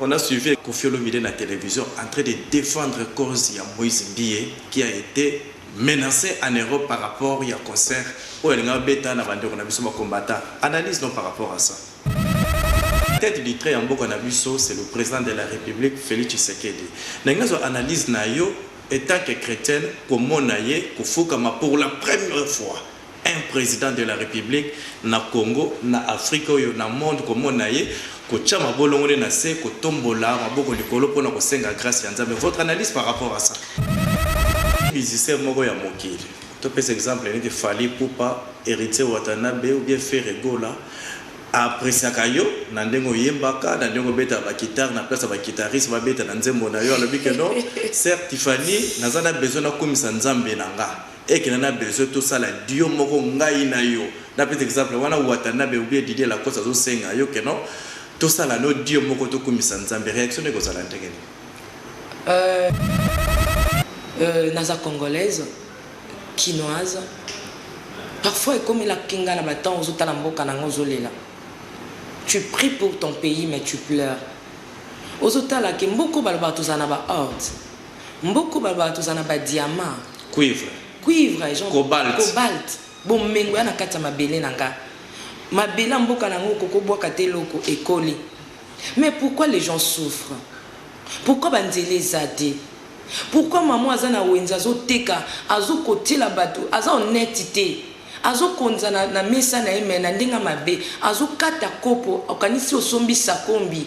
On a suivi Koffi Olomide na television en train de defendre cause ya Moise Mbiye qui a ete menace en Europe par rapport ya concert oyo alingaki abeta na ba ndeko na biso ba combattants. Analyse no par rapport à ça. Tete du trait ya mboka na biso c'est le President de la Republique Felix Tshisekedi. Nalingi nazwa analyse na yo etant que chretienne komona ye kofukama pour la première fois. Un president de la republique na Congo, na Afrique oyo na monde komona ye kotia mabolongo nde na se kotombola maboko likolo pona kosenga grace ya Nzambe votre analyse par rapport à ça? Musicien moko ya mokili topesa exemple neti Fally Ipupa, Heritier Watanabe ou bien Ferre Gola a appreciaka yo na ndenge oyembaka, na ndenge obetaka ba guitare na place ya ba guitaristes babeta na nzembo na yo alobi que non Sœur Tiffany naza na besoin nakumisa Nzambe na nga. Eke na na besoin to sala duo moko ngai na yo na pesa exemple wana watanabe ou bien Didier lacoste azo senga yo que non to sala no duo moko to kumisa nzambe reaction no eko zala ndenge nini? Euh euh naza congolaise kinoise parfois ekomela ki nga na ba temps ozo tala mboka na nga ozo lela tu prie pour ton pays mais tu pleure ozo tala ke mboko balobaka tozala na ba ordre Mboko baloba tozala na ba diamants, Cuivre. cuivre, genre Cobalt. cobalt, bomengo ya na kati ya mabele na nga. Mabele ya mboka na yango okoki obwaka te eloko, ekoli. Mais pourquoi les gens souffrent? Pourquoi ba nzela eza te? Pourquoi mama oyo aza na wenze azo teka, azo kotiela batu, aza honnete te. Azo konza na, na mesa na ye mais na ndenge ya mabe. Azo kata kopo, okanisi osombi sakombi.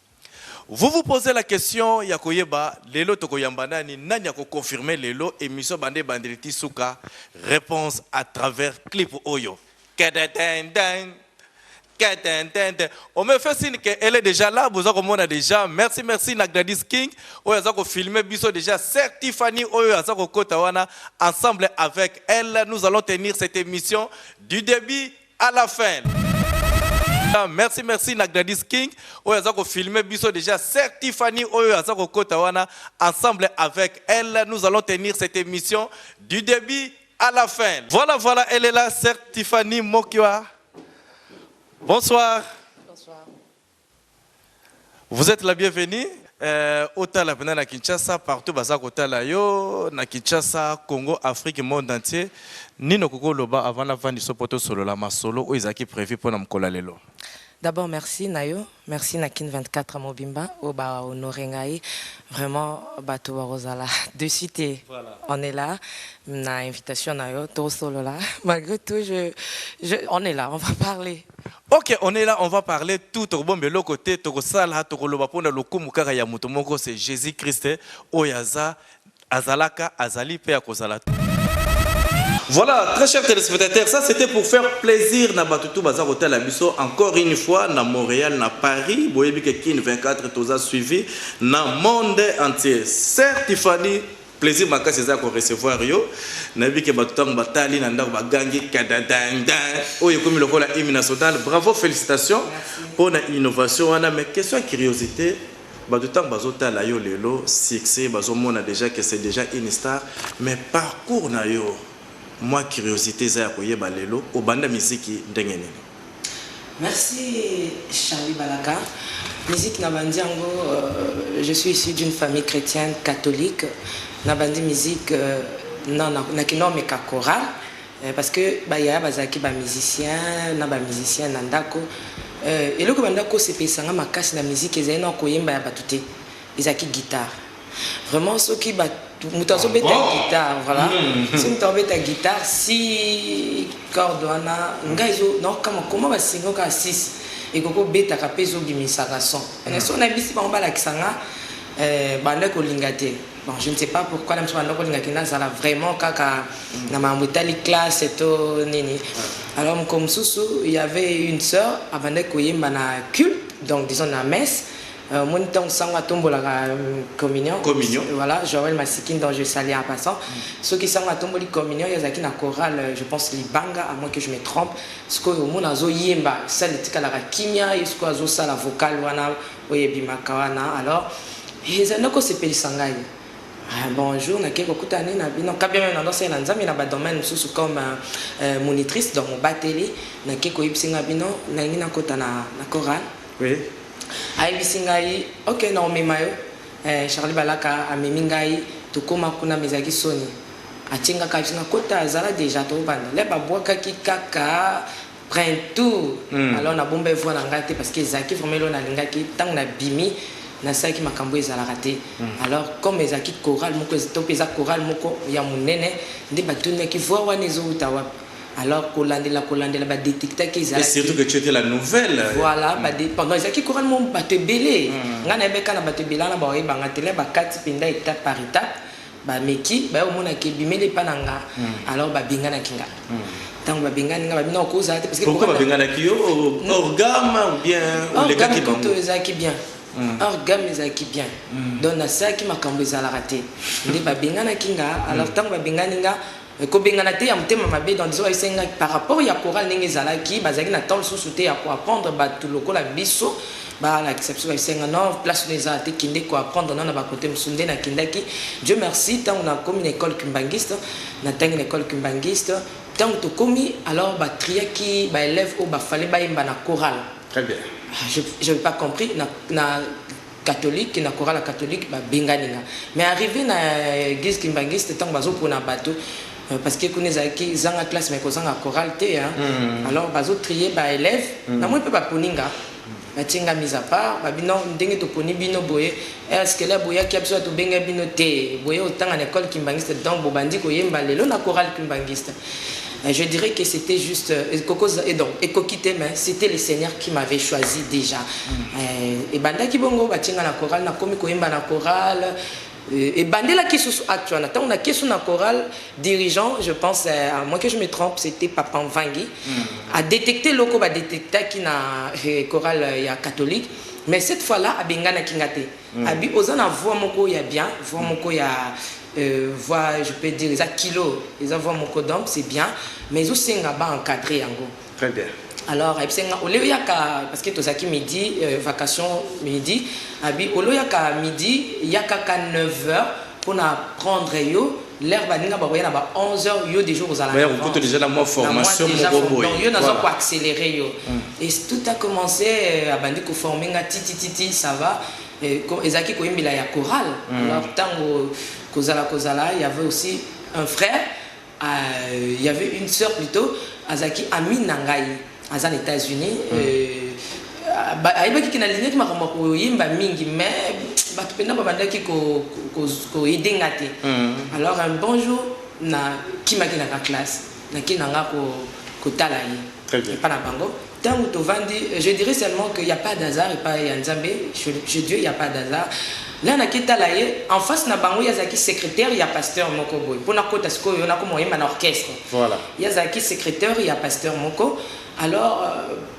Vous vous posez la question ya koyeba lelo tokoyamba nani, nani ako confirmer lelo emission banda ebandeli ti suka? Reponse à travers clip oyo. Kededenden! Kedendenden! On me fait signe que elle est déjà là, boza komona déjà. Merci, merci na Gladys King oyo aza ko filmer biso déjà. Sœur Tiffany oyo aza kokota wana ensemble avec elle, nous allons tenir cette émission du début à la fin ah, merci merci na Gladys King oyo aza ko filmer biso déjà sœur Tiffany oyo aza ko kota wana ensemble avec elle nous allons tenir cette émission du début à la fin voilà voilà elle est là sœur Tiffany Mokiwa bonsoir Vous etes la bienvenue euh, otala pena na Kinshasa partout baza kotala yo na Kinshasa Congo Afrique monde entier nino koko loba avant na vandi so poto solo la masolo oyo ezaki prévu pona mkola lelo D'abord merci na yo merci na kin 24 mobimba oyo ba honore ngai vraiment bato bakozala dessus te voilà. on est là na invitation na yo tosolola malgré tout je, je, on est là on va parler Ok on est là on va parler tout tokobomba eloko te tokosala tokoloba pona lokumu kaka ya moto moko c'est Jesus Christ oyo aza azalaka azali pe akozala tout. Voilà très chers telespectateurs ça c'etait pour faire plaisir na batu tout baza kotala biso encore une fois na Montreal na Paris boyebi ke kin 24 toza suivi na monde entier sœur Tiffany Plaisir makasi eza ya ko recevoir yo. Nayebi ke batu tango batali na ndako bagangi kadadindin. Oyo ekomi lokola hymne national. Bravo felicitations pona innovation wana mais question ya curiosite batu tango bazotala yo lelo succès bazomona dejà ke c'est dejà une star mais parcours na yo mua curiosite eza ya koyeba lelo obanda miziki ndenge nini? Merci Charly Balaka musique na bandi yango je suis issu d'une famille chrétienne catholique na bandi musique na na kino meka chorale Euh, parce que bayaya bazalaki bamusicien na bamusicien na ndako euh, eloko banda kosepelisa nga makasi na miziki ezali na koyemba ya bato te ezalaki guitare Vraiment soki ba moto azobeta ah guitare voilà hmm. soki moto abeta guitare si corde wana ngai ezo nakokama koma basingo kaka 6 ekoki kobetaka mpe ezobimisaka son hmm. ene soki nayebisi bango balakisa nga eh, banda kolinga te bon je ne sais pas pourquoi na biso banda kolinga te nazala vraiment kaka hmm. na makambo etali classe to nini alors moko mosusu y avait une sœur abandaki koyemba na culte donc disons na messe Euh, moni ntango sango atombolaka euh, communion communion voilà joel masikin dont je salue en passant mm. soki sango atomboli communion ye azalaki na chorale euh, je pense libanga à moins que je me trompe sikoyo omona azoyemba sale etikalaka kimia ye sikoyo azosala vocal wana oyo ebimaka wana alors ezali nakosepelisa ngai Ah, bonjour nakei kokutana nini na bino kabia meme nandosai na nzambe na badomaine mosusu comme euh, euh monitrice donc mobateli nakei koyebisi nga bino nalingi nakota na, na chorale Ayebisi ngai ok nakomema yo eh, Charly Balaka amemi ngai tokoma kuna mais ezalaki soni atie nga kaka biso na kota zala deja tokobanda le babwakaki kaka printout mm. alors nabomba evoi na ngai te parce que ezalaki vraiment elo nalingaki ntango nabimi nasalaki makambo ezalaka te mm. alors comme ezalaki chorale moko to mpe eza chorale moko ya monene nde batunaki voi wana ezowuta wapi Alors kolandela kolandela ba detectaki ezalaki. Et surtout que tu étais la nouvelle. Voilà, mm. ba de, pendant ezalaki chorale mo bato ebele. Mm. Nga nayebi kaka na bato ebele wana ba oyeba nga tele bakati mpenza étape par étape bameki baye omonaki ebimeli epa na nga mm. alors babenganaki nga ntango babengani nga babina okozala te pourquoi babenganaki yo orgame ou bien olekaki bango ezalaki bien Mm. or game ezalaki bien mm. donc nasalaki makambo ezalaka te nde babenganaki nga alors ntango babengani nga Mais kobengana te ya motema mabe dans disons ese nga par rapport ya chorale ndenge ezalaki bazalaki na temps lisusu te ya ko apprendre batu lokola biso ba lakisa biso ese nga non place no eza te kende ko apprendre nao na ba cote mosusu nde na kendaki Dieu merci tango na komi na ecole kimbanguiste na tangi na ecole kimbanguiste tango tokomi alors ba triaki ba elèves oyo ba fallait ba yemba na chorale très bien ah, je je pas compris na na catholique na chorale ya catholique ba bengani nga mais arrive na eglise kimbanguiste tango bazo pona bato Euh, parce que kuna ezalaki zanga classe mais kozanga chorale te hein. Mm. alors bazo trier ba élèves mm. namoni mpe baponi nga batie nga mise à part babi non ndenge toponi bino boye eskele eh, boyaki ya biso tobenga bino te boye otanga na école kimbanguiste donc bobandi koyemba lelo na chorale kimbanguiste Mais je dirais que c'etait juste kokoza et donc ekoki te mais c'était le Seigneur qui m'avait choisi déjà. Eh, ebandaki bongo batie nga na chorale nakomi koyemba na chorale Eh, ebandelaki susu acte wana ntango na kesu na chorale dirigeant je pense eh, à moins que je me trompe c'était papa mvangi adetecte eloko badetectaki na eh, chorale ya catholique mais cette fois là abenganaki nga te Abi oza na voix moko ya bien voix moko ya voix je peux dire eza kilo eza voix moko donc c'est bien mais ezo senga ba encadrer yango très bien alors ayebisi nga ole oyaka parce que tozalaki midi euh, vacation midi abi ole oyaka midi yaka ka 9 heures mpona prendre yo L'heure baninga bakoya na ba 11 heures yo dejà okozala na vente. Okokuta dejà na mwa formation moko boye. Donc yo naza ko accelerer yo. Et tout a commence abandi ko former nga ti ti ti ti ça va ezalaki koyembela ya chorale. Alors tango kozala kozala il y avait aussi un frère il y avait une sœur plutôt azalaki amie na ngai. aza na etats unis mm. euh, ayebaki ke nalingaki makambo ya koyemba mingi mais bato mpena babandaki koyede nga te mm. alors un bon jour nakimaki naka classe naki nanga kotala ye epa na bango ntango tovandi euh, je dirais seulement que ya pas d'hasard epa ya nzambe je dieu ya pas d'hasard nga naki tala ye en face na bango ye azalaki secrétaire ya pasteur moko boye mpo nakota sikoyo nakoma oyemba na orchestre Voilà. Ye azalaki secretaire ya pasteur moko. Alors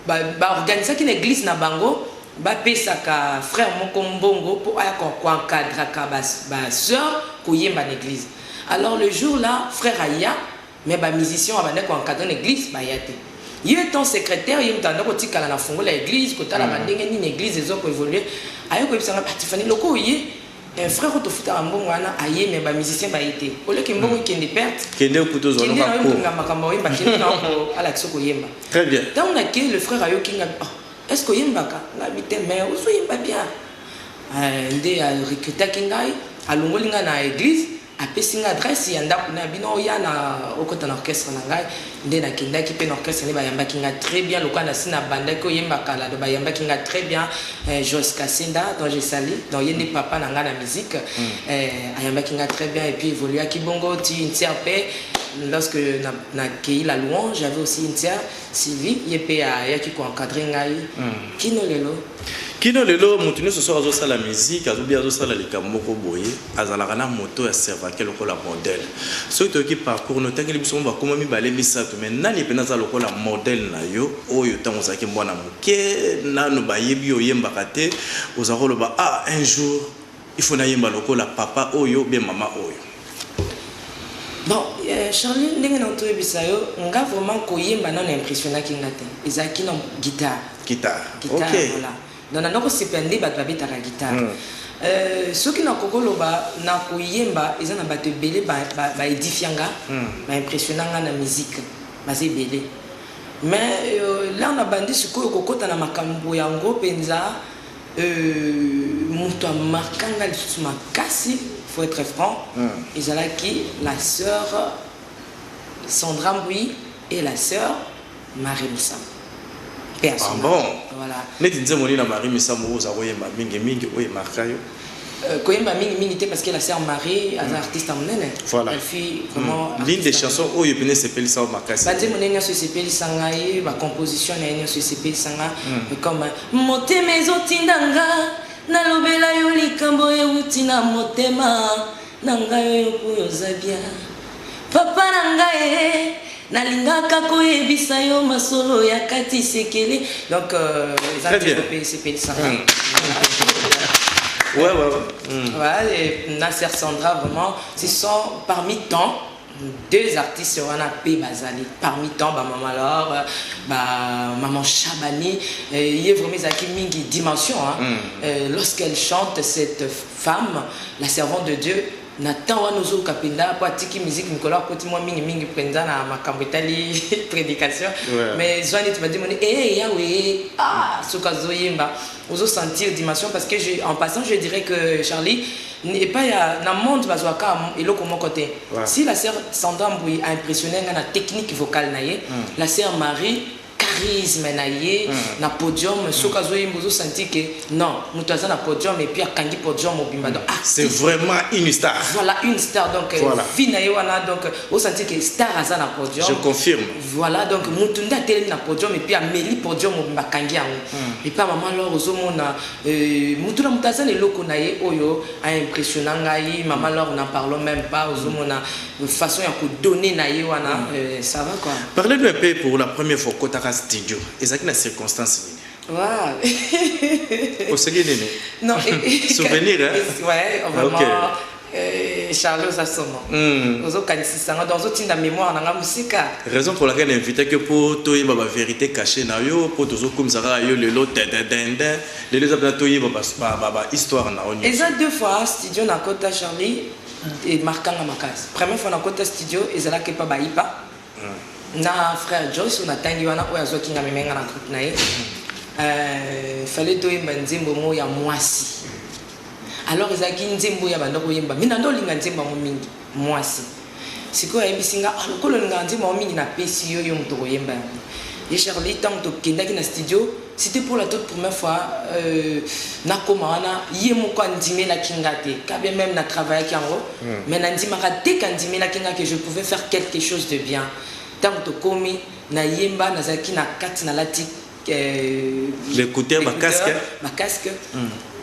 ba, ba organisaki na eglise na bango bapesaka frère moko mbongo mpo aya koencadraka ba, ba sœur koyemba na eglise. Alors le jour là frère aya mais ba musicien abandaki koencadre na eglise baya te. Ye étant secrétaire ye moto abandaki kotikala na fungola ya eglise kotalaka ndenge nini eglise ezo koevolue aye koyebisa nga batifani loko oye Eh frère oyo tofutaka mbongo wana aye mais ba musiciens baye te au lieu que mbongo hmm. ekende perte kende kuto zona kende na yo mbongo makambo oyemba kende na yo ala kiso koyemba très bien ntango na ke le frère ayoki nga oh, est ce que oyembaka nga bite mais ozoyemba bien eh, nde recrutaki ngai alongoli ngai na église Apesi ngai adresse ya ndaku na bino oya na okota na orchestre na ngai nde na kendaki pe na orchestre nde ba yambaki ngai très bien lokola na si na bandaki ko yemba kala donc ba yambaki ngai très bien eh, Joyce Kasinda donc je sali donc ye nde papa na ngai na musique mm. eh, ayambaki ngai très bien et puis evoluaki bongo ti ntia pe lorsque na, na keyi la louange j'avais aussi ntia Sylvie ye pe ayaki ko encadrer ngai mm. kino lelo kino lelo moto nyonso soki azosala miziki azobi azosala likambo moko boye Azalaka n'a moto ya servante lokola modèle soki toyoki parcours nayo otangeli biso mwa bakoma mibale misatu mais nani pena aza lokola modèle nayo oyo tango ozalaki mwana muke nanu bayebi yo oyembaka te ozalaka oloba ah un jour il faut nayemba lokola papa oyo ou bien mama oyo. Bon Charly ndenge na toyebisa yo nga vraiment koyemba nanu impressionnaki nga te ezalaki nanu guitare. Guitare ok. Donc na nako sepela nde batu ba betaka guitare. Euh, soki na koko loba na ko yemba eza na batu ebele ba ba edifia nga, ba impressiona nga na musique baza ebele. Mais euh, l'heure na bandi sikoyo ko kota na makambu yango penza euh, mutu a marka nga lisusu makasi faut etre franc ezalaki la sœur Sandra Mbuyi et la sœur Marie Misamu. Paix à son Ah ame. bon? Voilà. Neti nzembo nini ya Marie Misamu oyo oza koyemba mingi mingi oyo e marqua yo? Euh, koyemba mingi mingi te parce que la sœur Marie aza artiste ya monene. Voilà. Elle fut vraiment Hmm. L'une artiste des ya chansons oyo epene esepelisa yo makasi. banzembo nde nyonso esepelisa ngai bacomposition na ye nyonso esepelisa nga comme motema ezotinda nga nalobela yo likambo euti na motema na ngai oyo boye oza bien papa na ngai eh, nalingaka koyebisa yo masolo ya kati sekele donc euh, eza Très bien. nzembo pe esepelisa ngai Ouais, ouais, ouais. Mm. Ouais, et Nasser Sandra, vraiment, ce sont parmi tant deux artistes wana pe bazali parmi tant ba maman Laure ba maman Shabani euh, ye vraiment ezalaki mingi dimension hein? mm. euh, lorsqu'elle chante cette femme la servante de Dieu na temps wana ozoyoka mpenza mpo atiki miziki mikolo akoti mwa mingi mingi mpenza na makambo etali prédication mais zwa neti badi moni e eh, yawe eh, ah soki azoyemba ozosentir dimension parce que je, en passant je dirais que charlie Epai ya na monde bazua ka eloko moko te si la sœur Sandra Mbuyi a impressionner nga na technique vocale na ye la sœur Marie charisme na ye na podium soki azo yemba ozo sentir que non mutu aza na podium et puis akangi podium mobimba donc ah c'est vraiment une star voilà une star donc voilà. vie na ye wana donc ozo sentir que star aza na podium je confirme voilà donc mutu nde atelemi na podium et puis ameli podium mobimba akangi yango et puis maman alors ozo mona Euh, mutu na mutu aza na eloko na ye oyo a impressionna ngai mama lor na parlons même pas ozomona euh, façon ya kodonne na ye wana mm. euh, ça va quoi parlez nous un peu pour la première fois okotaka studio ezalaki na circonstance nini Wow. Au Souvenir, hein? Ouais, vraiment. Okay. Eh, Charles oza somo hmm. ozokanisisa nga donc ozotinda mémoire na nga mosika raison pour laquelle invité que mpo toyeba ba vérité caché na yo mpo tozokumisa kaka yo lelo dededende lelo eza mpena toyeba bahistoire na yo eza deux fois studio na kota charlie emarkanga makasi première fois na kota studio ezalaki epa bayipa Na frère Joyce na tangi wana oyo azwaki nga meme nga na groupe na ye euh, fallait toyemba nzembo mo ya mwasi alors ezalaki nzembo ya banda koyemba mi nando olinga nzembo yango mingi mwasi sikoyo ayebisi nga ah, lokola olingaka nzembo yango mingi napesi yo yo moto koyemba yango ye charlie ntango tokendaki na studio C'etait pour la toute première fois nakoma wana ye moko andimelaki nga te quand bien meme na travaillaki yango mais nandimaka dès que andimelaki nga que je pouvais faire quelque chose de bien tango tokomi na yemba nazalaki na kati nalati b'ecouteurs ba casques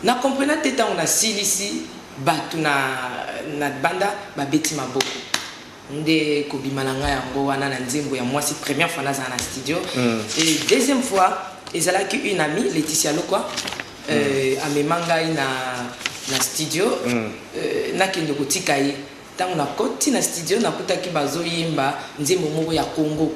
na comprena te tango nasilisi batu na banda babeti maboko. nde kobima na nga yango wana na nzembo ya mwasi première fois nazala na studio et deuxième fois ezalaki une amie Laetitia Lokwa euh, amema ngai na na studio euh, nakende kotika ye ntango nakoti na studio nakutaki bazoyemba nzembo moko ya Congo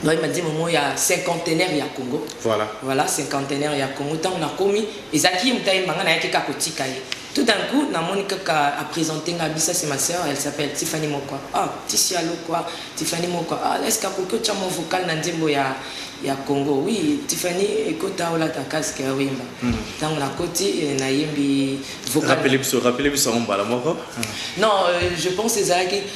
Vraiment dimo mo ya cinquantenaire ya Congo. Voilà. Voilà cinquantenaire ya Congo. Tango na komi, ezaki mutaye manga na yaki ka kotika ye. Tout d'un coup, na moni kaka a présenter nga bisa c'est ma sœur, elle s'appelle Tiffany Mokwa. Ah, Tiffany allo quoi? Tiffany Mokwa. Ah, est-ce que koki otia mon vocal na nzembo ya ya Congo? Oui, Tiffany ekota ola ta casque ya wimba. Mm. Tango na koti eh, na yembi vocal. Rappelez biso, rappelez biso mbala moko. Non, euh, je pense ezalaki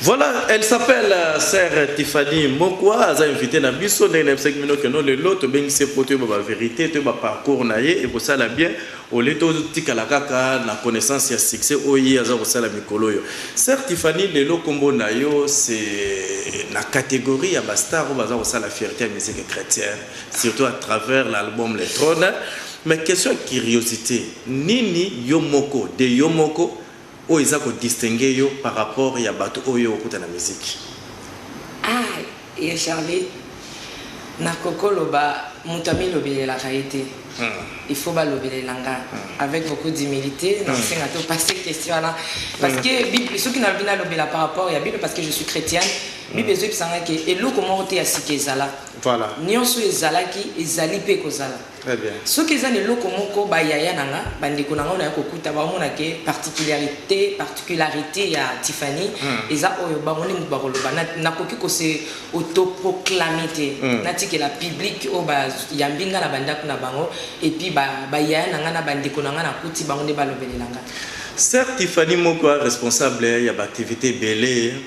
Voilà, elle s'appelle euh, sœur Tiffany Mokwa, aza invité na biso ndenge nayebisaki bino keno lelo tobengisi ye mpo toyeba ba verité toyeba parcours na ye ekosala bien ole totikala kaka na connaissance ya succès oyo ye aza kosala mikolo oyo. Sœur Tiffany, lelo nkombo na yo c'est na catégorie ya bastar oyo baza kosala fierté ya musique chrétienne surtout à travers l'album Le Trône. Mais question ya curiosité, nini yo moko de yo moko Oyo eza ko distinguer yo par rapport ya batu oyo okuta na musique. Ah ya Charly nako ko loba mutu ami lobelelaka ye te il faut ba lobelela nga avec beaucoup d'humilite nako senga to passer question wana parce que bible soki nalobi na lobela par rapport ya bible parce que je suis chretienne bible ezo yebisa nga ke eloko moko te ya sika ezala nionso ezalaki ezali pe ekozala. Très bien. Soki eza na eloko moko ba yaya na nga, ba ndeko na nga oyo naya ko kuta bao mona ke particularite, particularite ya Tiffany eza oyo bango nde mutu bako loba. Na, na koki ko se autoproclamer te. Na tikela public oyo ba yambi nga na ba ndaku na bango et puis ba, ba yaya na nga na ba ndeko na nga na kuti bango nde ba lobelela nga. Sœur Tiffany Moko a responsable ya ba activites ebele.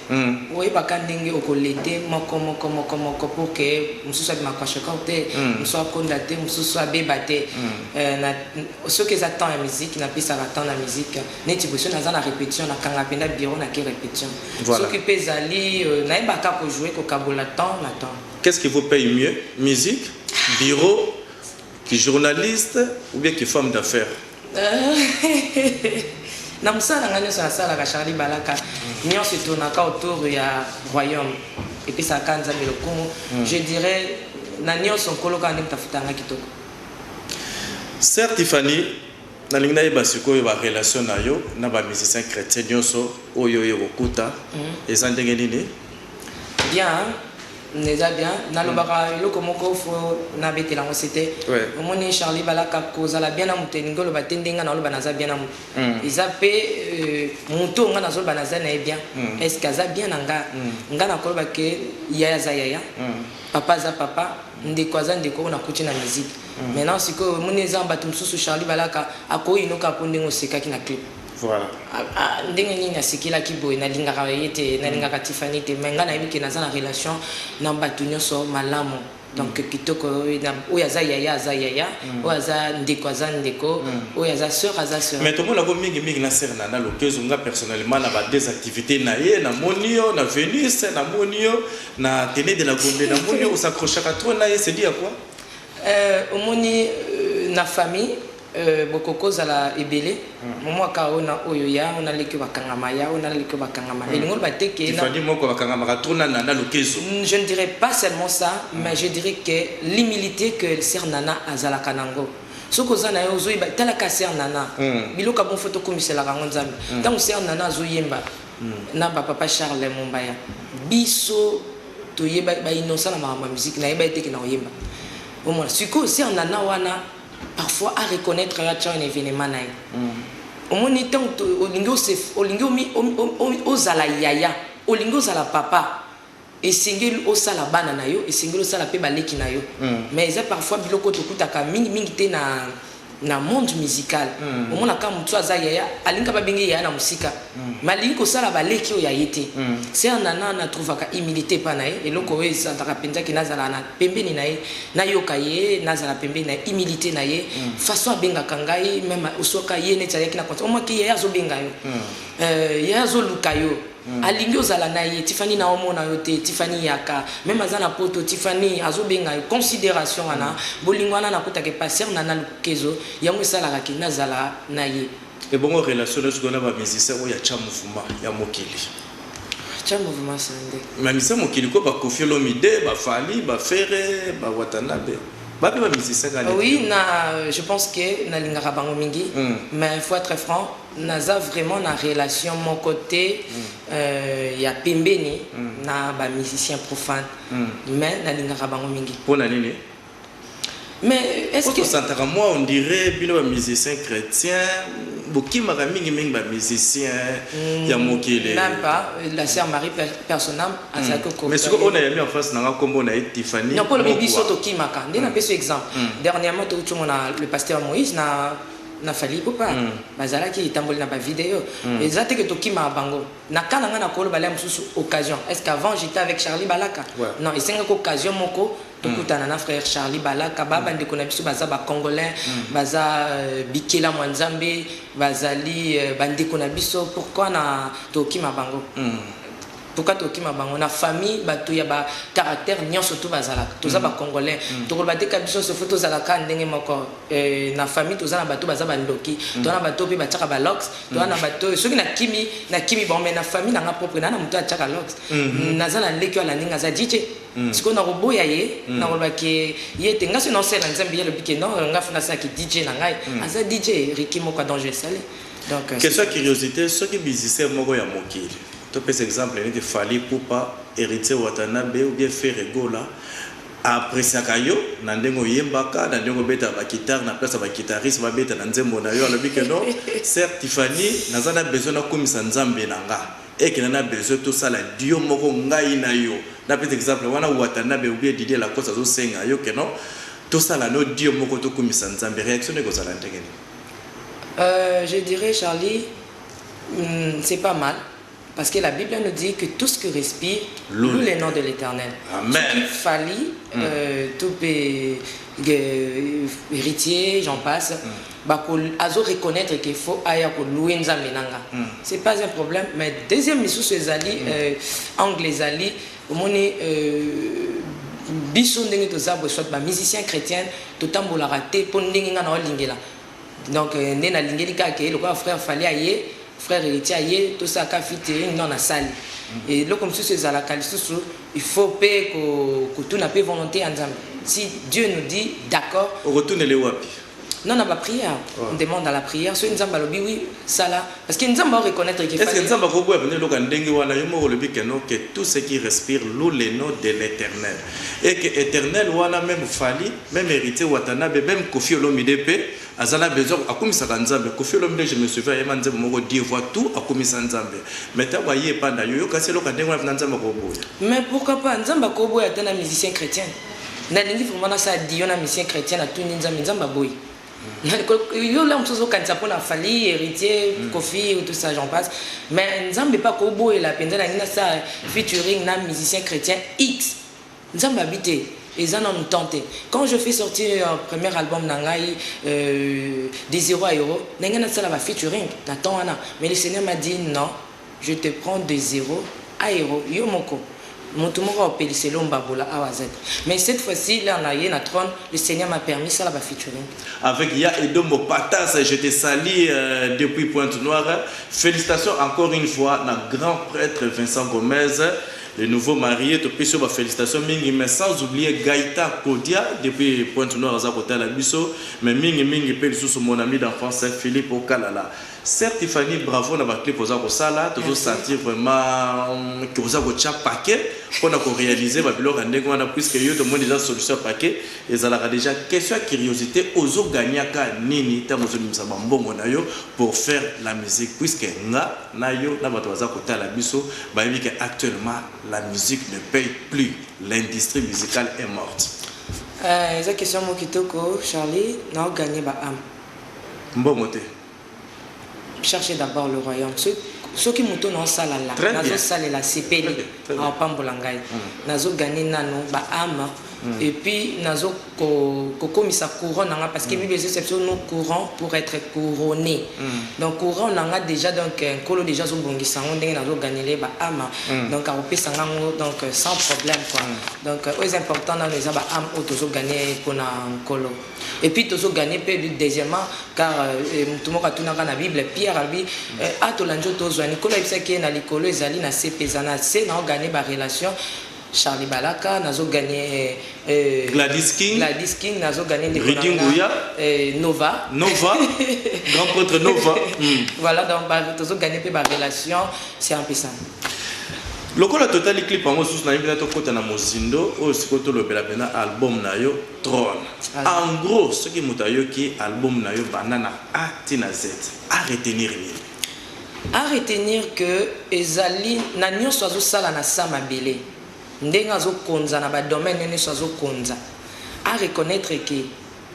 Oyebaka ndenge oko l'aider moko moko moko moko pour que mosusu abima kwashiorkor te, mosusu akonda te, mosusu abeba te. Soki eza temps ya musique napesaka temps na musique. Neti boye soki naza na repetition nakanga penza bureau nake repetition. Soki pe ezali nayeba kaka ko jouer kokabola temps na temps. Qu'est-ce qui vous paye mieux musique, bureau? Ki journaliste ou bien ki femme d'affaires? Na mosala na ngai nionso nasalaka Charly Balaka nionso etournaka autour ya royaume epesaka kaka Nzambe lokumu je dirais na nionso Nkolo kaka nde moto afutaka ngai kitoko. Sœur Tiffany, nalingi nayeba sikoyo ba relations na yo na ba musiciens chretiens nionso oyo oye kokuta eza ndenge nini? Bien. Eza bien nalobaka eloko moko fo nabetela yango sete omoni Charlie balaka kozala bien na moto elingi oloba te nde nga naoloba naza bien na moto eza pe moto oyo nga nazoloba naza na ye bien est ce que aza bien na nga nga nakoloba ke yaya aza yaya papa aza papa ndeko aza ndeko oyo nakuti na musique maintenant sikoyo omoni eza bato mosusu Charlie balaka akoyinoka po ndenge osekaki na clip Voilà. Ah, ah, ndenge nini nasekelaki boye nalingaka ye te nalingaka tifani te mai ngai nayebi ke naza na relation na bato nyonso malamu donc mm. kitoko oyo aza yaya aza yaya mm. oyo aza ndeko aza ndeko mm. oyo aza sœur aza sœur mais tomona ko mingi mingi na sœur nana lokezo nga personnellement na ba des activités na ye na moni yo na Venus na moni yo na tene de la Gombe na moni yo osakrochaka trop na ye c'est dit à quoi euh, omoni euh, na famille Euh bokoko zala ebele momo aka oyo na oyo ya oyo na leki oyo bakangama ya oyo na leki oyo bakangama elingi oloba te ke na Tiffany moko bakangamaka trop na Nana Lukezo. Je ne dirai pas seulement ça mais je dirai que l'humilite que sœur Nana azalaka nango soki oza naye ozo yeba tala ka sœur Nana biloko ya bon faut tokumiselaka yango Nzambe tango sœur Nana azo yemba na ba papa Charles Mombaya biso toyeba ba innocent na makambo ya musique nayebaki te ke nako yemba omona sikoyo sœur Nana wana Parfois a reconnaitre yo atia yo na evenement na ye. Omoni tango olingi ose olingi ozala yaya olingi ozala papa esengeli osala bana na yo esengeli osala pe ba leki na yo mais eza parfois biloko oyo tokutaka mingi mingi te na na monde musical omona ka mutu aza yaya alingi ka ba benge ye yaya na mosika. Malingi kosala ba leki oyo ya ye te. Sœur Nana na trouvaka humilite epa na ye, eloko oyo esantaka penza ke nazala na pembeni na ye, nayoka ye, nazala pembeni na ye, humilite na ye, façon abengaka ngai, meme osoka ye neti ayaki na concert, omon ke yaya azobenga yo, yaya azoluka yo, alingi ozala na ye, Tiffany naomona yo te, Tiffany yaka, meme aza na poto, Tiffany, azobenga yo, consideration wana, bolingo wana nakutaka epa Sœur Nana Lukezo, yango esalaka ke nazala na ye. Ebongo relation nayo sikoyo na ba musiciens oyo ya ca mouvement ya mokili? Ca mouvement sande. Mais musiciens ya mokili ko ba koffi olomide, ba fally, ba ferre, ba watanabe ba pe ba musiciens kaka leki. Oui na je pense que na lingaka bango mingi mais il faut etre franc naza vraiment na relation moko te ya pembeni na ba musiciens profanes mais na lingaka bango mingi. Pona nini? Mais est ce que Ozo santaka moi on dirait bino ba musiciens chretiens bokimaka mingi mingi ba musiciens mm, ya mokili. Même pas la sœur Marie Personam mm. azalaki mm. ko. Mais siko ona yami en face na nga kombo na ye Tiffany. Non ko lobi biso to kimaka. Nde na mm. peso exemple. Mm. Dernièrement to utumo na le pasteur Moïse na na fali ipupa mm. bazalaki etamboli na bavideo mm. eza te ke tokima bango na ka na ngai na koloba le mosusu occasion est ce qu'avant j'étais avec charlie balaka ouais. non esengaki occasion moko tokutana na frère Charlie Balaka ba bandeko na biso baza ba congolais baza bikelamu ya Nzambe bazali bandeko na biso pourquoi na tokima bango pourquoi tokima bango na famille bato ya ba caractère nyonso to bazalaka toza ba congolais tokoloba te ka biso nyonso fo tozala ka ndenge moko na famille toza na bato baza bandoki toza na bato mpe batiaka ba lox toza na bato oyo soki nakimi nakimi bango mai na famille na nga propre naa na moto atiaka lox naza na leki oyo alandi nga aza dj sikoyo nakoboya ye nakoloba ke ye te nga soki naosalela nzambe ye alobi ke non nga fo nasala ki DJ na ngai aza DJ Ricky moko ya danger esali donc euh, Question ya curiosite, soki musicien moko ya mokili, topesa exemple neti Fally Ipupa, Heritier Watanabe ou bien Ferre Gola, a appreciaka yo na ndenge oyembaka, na ndenge obetaka ba guitares na place ya ba guitaristes babeta na nzembo na yo, alobi que non, Sœur Tiffany, naza na besoin nakumisa Nzambe na nga. Eke na na besoin to sala duo moko ngai na yo na pesa exemple wana watanabe ou bien Didier lacoste azo senga yo que non to sala no duo moko to kumisa nzambe reaction no eko zala ndenge nini? Euh je dirais Charly hum c'est pas mal parce que la bible nous dit que tout ce que respire Loue loue le le nom de l'eternel Amen. Fally euh to pe ge- heritier j'en passe ba ko azo reconnaitre que faut aya ko louer nzambe nanga c'est pas un problème mais deuxième misusu ezali euh, angle ezali omoni euh, biso ndenge toza boye soit ba musicien chrétien totambolaka te mpo ndenge ngai naolingela donc euh, nde nalingeli kaka ke lokola frère fali aye frère héritier aye tosalaka fite non nasali mm. eloko mosusu ezalaka lisusu il faut mpe kotuna mpe volonté ya nzambe si dieu nous dit d'accord okotunele wapi Non na ba prière, on demande à la prière soki Nzambe alobi oui sala parce que Nzambe a reconnaître que Est-ce que fallait Nzambe akoboya mpenza eloko ya ndenge wana? Yo moko olobi que non, que tout ce qui respire loue le nom de l'Eternel. Et que Eternel wana meme Fally, meme Heritier Watanabe, meme Koffi Olomide mpe aza na besoin akumisaka Nzambe. Koffi Olomide je me souviens ayemba nzembo moko Dieu voit tout akumisa Nzambe. Mais ntango aye epai na yo, oyoki asi eloko ya ndenge wana mpenza Nzambe akoboya? Mais pourquoi pas, Nzambe akoboya ata na musicien chretien. Nalingi vraiment nasala dio na musicien chretien natuni nzambe nzambe aboyi yo la mosusu ozokanisa mpo na fali héritier mm. kofi tout ça j'en passe mais nzambe mpe akoboyela mpenza nalingi nasala featuring na musicien chrétien x nzambe abi te eza nanu temps te quand je fais sortir euh, premier album na ngai euh, des euro à euro na ngai nasala ba featuring na temps wana mais le seigneur m'a dit non Je te prends de zero aero yo moko mutu moko ako pelisa elomba bola awa aza te mais cette fois ci l'heure na ye na trone le seigneur m'a permis sala ba featuring. Avec ya edombo patas je te salis depuis pointe noire felicitations encore une fois na grand pretre Vincent Gomez le nouveau marie to pesi yo ba felicitations mingi mais sans oublier Gaita Kodia depuis pointe noire aza kotala biso mais mingi mingi pe lisusu mon ami d'enfance Philippe Okalala Sœur Tiffany bravo na ba clip oza kosala tozo sentir vraiment que oza kotia paquet pona ko realiser ba biloko ya ndenge wana puisque yo tomoni dejà solution ya paquet ezalaka dejà question ya curiosite ozo gagnaka nini tango ozo bimisa ba mbongo na yo pour faire la musique puisque nga na yo na batu baza kotala biso bayebi que actuellement la musique ne paye plus l'industrie musicale est morte Eza question moko kitoko Charly nao gagner ba ame. Mbongo te. Cherche d'abord le royaume. Ce soki moto na osala la nazo salela sepeli a pambola ngai nazo gagner nano ba âme et puis nazo kokomisa courant nanga parce que bible ezosepsa biso no courant pour être couronné donc courant nanga déjà donc euh, nkolo déjà azobongisa yango ndenge nazo gagnele ba âme donc akopesa nga yango donc euh, sans problème quoi donc euh, oyo eza important nano eza ba âme oyo tozo gagner mpona nkolo Et puis tozo gagner pe deuxièmement car euh, mutu moko atunaka na bible pierre alobi euh, a tolandi oyo tozwa nikolo ayebisaki ye na likolo ezali na se mpe eza na se nao gagner barelation charlie balaka nazo gagner euh, euh, Gladys King, gladys king nazo gagner ndeko Rudy na nga, Nguya. euh, nova Nova, grand prêtre Nova. Mm. voilà donc ba- tozo gagner mpe barelation c'est un peu ça Lokola totali clip yango susu na yebina tokota na mozindo oyo sikoyo tolobela pena album na yo Drone. En gros, soki moto ayoki album na yo banda na A ti na Z, a retenir nini? A retenir que ezali na nionso azo sala na Sa Mabele, ndenge azo konza na ba domaines naye nionso azo konza, a reconnaitre que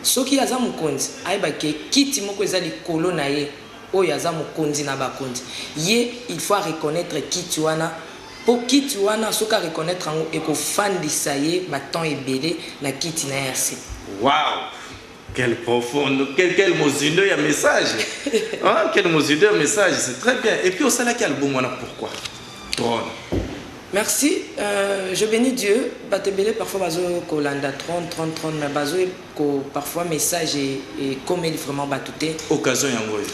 soki aza mokonzi, ayeba que kiti moko eza likolo na ye oyo aza mokonzi na bakonzi, ye il faut a reconnaitre kiti wana. Po kiti wana soki a reconnaitre yango eko fandisa ye ba temps ebele na kiti naye ya sika. Wow! Quel profond, quel quel mozindo ya message hein quel mozindo ya message c'est très bien et puis osalaki album wana pourquoi trone. Merci euh, je beni Dieu bato ebele parfois bazo kolanda trone trone trone mais bazo ko parfois message ekomeli vraiment bato te. Occasion yango oyo.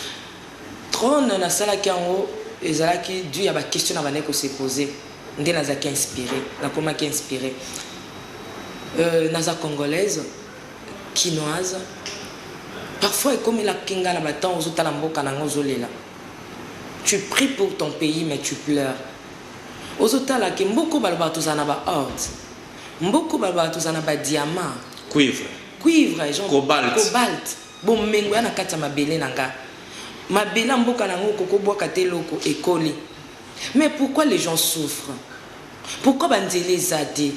Trone na salaki yango ezalaki du ya ba question na bandaki ko se poser nde nazaki inspire na komaki inspire euh naza congolaise kinoise parfois ekomelaki nga na ba temps ozo tala mboka na nga ozo lela tu pries pour ton pays mais tu pleures ozo tala ke mboko balobaka tozala na ba orte mboko balobaka tozala na ba diamant cuivre cuivre genre cobalt, cobalt. Bomengo ya na kati ya mabele na nga mabele ya mboka na ngo koko bwaka te eloko ekoli mais pourquoi les gens souffrent pourquoi ba nzela eza te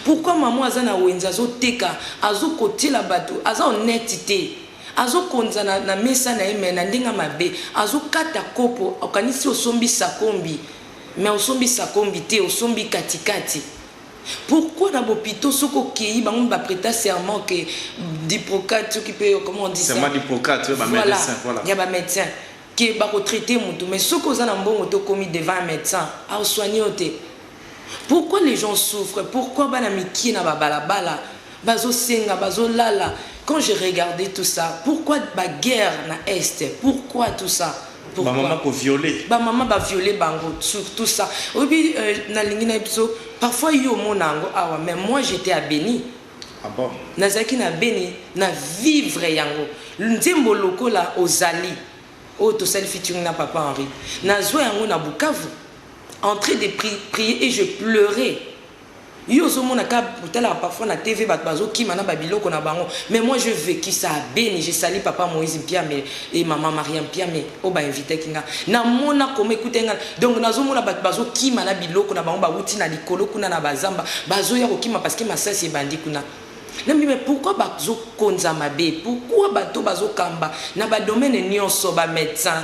pourquoi maman aza na wenze azo teka azo kotiela batu aza honnete te azo konza na, na mesa na ye mais na ndenge mabe azo kata kopo okanisi osombi sakombi mais osombi sakombi te osombi katikati Pourquoi na bopito soki okeyi bango mi ba preta serment que diprocate soki pe comment on dit ça serment diprocate ya ba medecin voilà ya ba medecin que bako traite mutu mais soki oza na mbongo te okomi devant un medecin ao soigne yo te pourquoi les gens souffre pourquoi bana mikie na ba balabala Bazo senga, bazo lala, quand je regarde tout ça, pourquoi ba guerre na est, pourquoi tout ça, pourquoi? Ba maman ko viole. Ba maman ba viole bango sur tout ça. Oyebi na lingi na biso parfois yo omona yango awa mais moi j'etais à Beni. Ah bon? Nazalaki na Beni na vivre yango. Nzembo lokola ozali oyo oh, tosali featuring na papa Henri. Nazwa yango na Bukavu. Entrée de pri prier et je pleurais. Yo ozo mona ka otalaka parfois na TV batu bazo kima na ba biloko na bango mais moi je vecu ça à Beni je sali papa Moïse Mpiame et maman Maria Mpiame oyo ba invitaki nga na mona comment ekutaki nga donc nazo mona batu bazo kima na biloko na bango ba wuti na likolo kuna na ba zamba bazo ya kokima parce que masasi ebandi kuna na mbi mais pourquoi bazo konza mabe pourquoi bato bazo kamba na ba domaine nionso ba medecin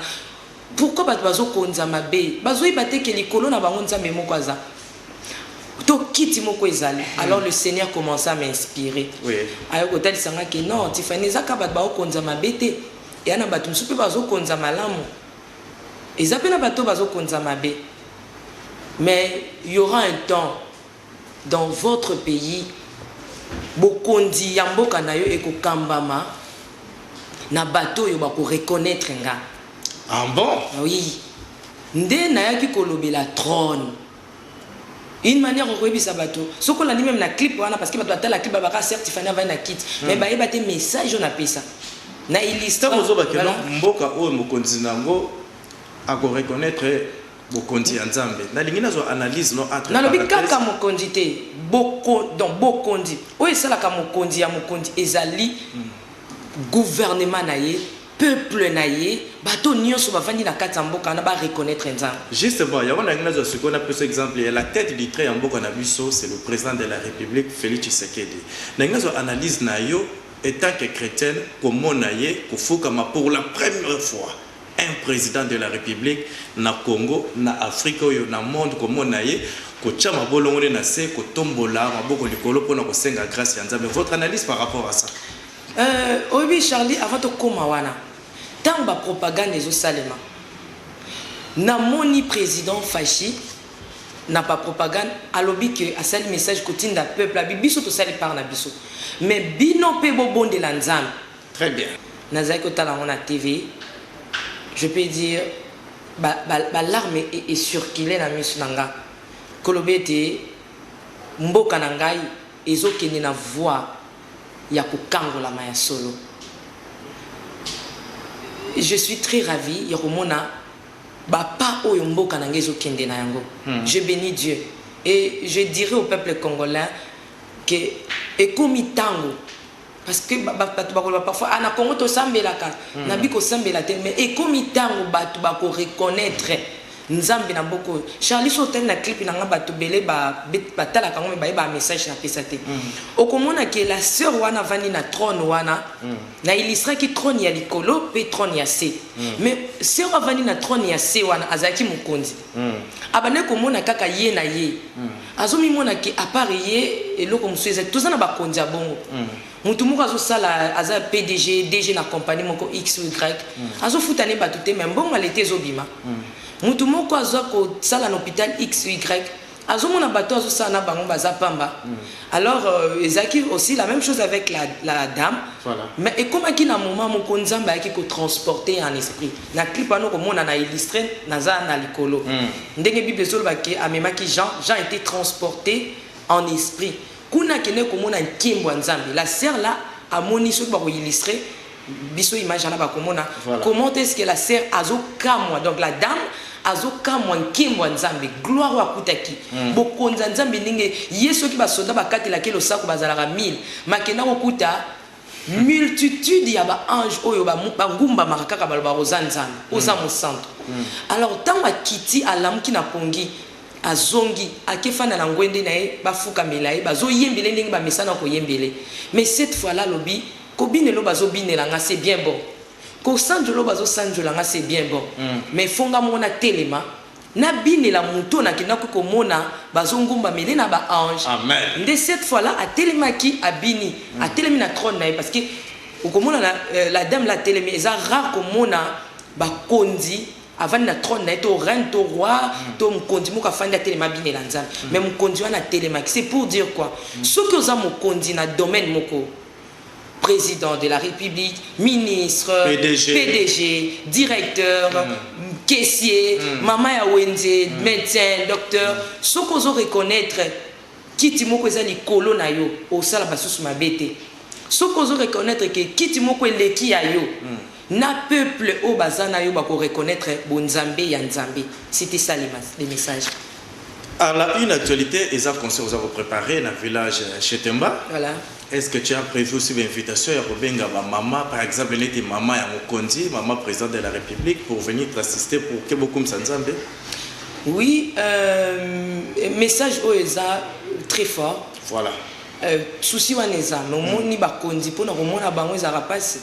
Pourquoi batu bazo konza mabe bazo yeba te ke likolo na bango nzambe moko aza to kiti moko ezali alors le seigneur commenca à m'inspirer Oui. aye kotalisa nga ke non Tiffany eza ka batu bao konza mabe te eya na batu mosusu pe bazo konza malamu eza pe na batu oyo bazo konza mabe mais y'aura un temps Dans votre pays bokonzi ya mboka na yo eko kambama na bato oyo ba ko reconnaitre nga. Ah bon? Oui. Nde nayaki kolobela trone. Une manière okoyebisa bato soki olandi meme na clip wana parce que bato batala clip babaka certes Tiffany avandi na kiti mais hmm. bayeba te message oyo napesa na illustre. Ntango ozobakela mboka oyo mokonzi na yango ako reconnaitre Bokonzi ya Nzambe. Nalingi nazwa analyse no entre Nalobi kaka parenthèses. mokonzi te. Boko, donc bokonzi. Oyo esalaka mokonzi ya mokonzi ezali gouvernement na ye, peuple na ye, bato oyo nionso bavandi na kati ya mboka wana ba reconnaitre Nzambe. Justement, yango nalingi nazwa sikoyo napesa exemple ya la tete du trait ya mboka na biso, c'est le President de la Republique Felix Tshisekedi. Nalingi nazwa analyse na yo etant que chretienne komona ye kofukama pour la première fois un president de la republique na Congo na Afrique oyo na monde komona ye kotia mabolongo nde na se kotombola maboko likolo pona kosenga grace ya nzambe votre analyse par rapport à ça Euh, oyebi Charlie, avant tokoma wana, ntango ba propagande ezosalema, namoni president Fashi na ba propagande alobi que asali message kotinda peuple abi biso tosali part na biso, mais bino mpe bobondela Nzambe Très bien. Nazalaki kotala yango na TV, je peux dire ba ba ba larmes e e circuler na misu na nga koloba ete mboka na ngai ezo kende na voie ya kokangolama ya solo. Je suis très ravi ya komona ba pas oyo mboka na nga ezo kende na yango. Je beni Dieu et je dirai au peuple congolais que ekomi tango Parce que batu bakoloba parfois ah na Congo tosambelaka na bi kosambela te mais ekomi tango batu ba ko reconnaitre nzambe na mboka oyo Charly soki otali na clip na nga batu ebele ba batalaka yango mais bayebi ba message na pesa te okomona ke la soeur wana avandi na trone wana na illustraki trone ya likolo pe trone ya se mais soeur oyo avandi na trone ya se wana azalaki mokonzi abandaki komona kaka ye na ye Azo mimona que a part ye eloko mususu eza te. Toza na ba konzi ya bongo. Mutu moko azo sala aza pdg, DG na compagnie moko X ou Y. Azo futa ne batu te mais mbongo ya l'etat ezo bima. Mutu moko aza ko sala na hopital X ou Y. Azo mona batu azo sala na bango baza pamba. Alors ezalaki aussi la meme chose avec la dame. Mais ekomaki na moment moko Nzambe ayaki ko transporter ye en esprit. Na clip wana oko mona na illustre naza na likolo. Ndenge bible ezo loba ke amemaki Jean, Jean etait transporte en esprit. Kuna akendeki ko mona nkembo ya Nzambe. La sœur là a moni soki ba ko illustre biso image wana ba ko mona comment est ce que la sœur azo kamwa donc la dame azo kamwa nkembo ya Nzambe, gloire oyo akutaki. Bokonzi ya Nzambe ndenge ye soki ba soldats ba katelaki ye losako ba zalaka 1000 mais akenda ko kuta Multitude ya ba anges oyo ba ba ngumbamaka kaka balobaka oza nzambe, oza mosantu. Alors tango akiti alamuki na pongi azongi ake fanda na ngwende na ye ba fukamela ye bazo yembela ye ndenge ba mesana ko yembela ye mais cette fois là alobi ko binela oyo bazo binela nga c'est bien bon ko sanjola oyo bazo sanjola nga c'est bien bon mais faut nga moko na telema Na binela moto na kendaki ko mona bazo ngumbamele na ba ange Amen. nde cette fois là atelemaki abini atelemi na trone na ye parce que oko mona na la dame là atelemi eza rare ko mona ba konzi avandi na trone na ye to reine to roi to mokonzi moko afandi atelema abinela nzambe mais mokonzi wana atelemaki c'est pour dire quoi soki oza mokonzi na domaine moko President de la republique, ministre, PDG, PDG directeur, mm. caissier, mm. mama ya wenze, mm. médecin, docteur, mm. soki ozo reconnaître kiti moko eza likolo na yo, osala basusu mabe te. Soki ozo reconnaître ke kiti moko eleki ya yo, mm. Na peuple oyo baza na yo bako reconnaitre bo nzambe ya nzambe cite ça le message. A la une actualite eza concert oza ko preparer na village chez Temba voilà est ce que tu as prevu aussi ba invitation ya kobenga ba mama par exemple neti mama ya mokonzi mama president de la republique pour venir t'assister pour que bokumisa nzambe oui euh, message oyo eza très fort voilà Eh souci wana eza mais omoni ba konzi pona komona bango ezalaka pasi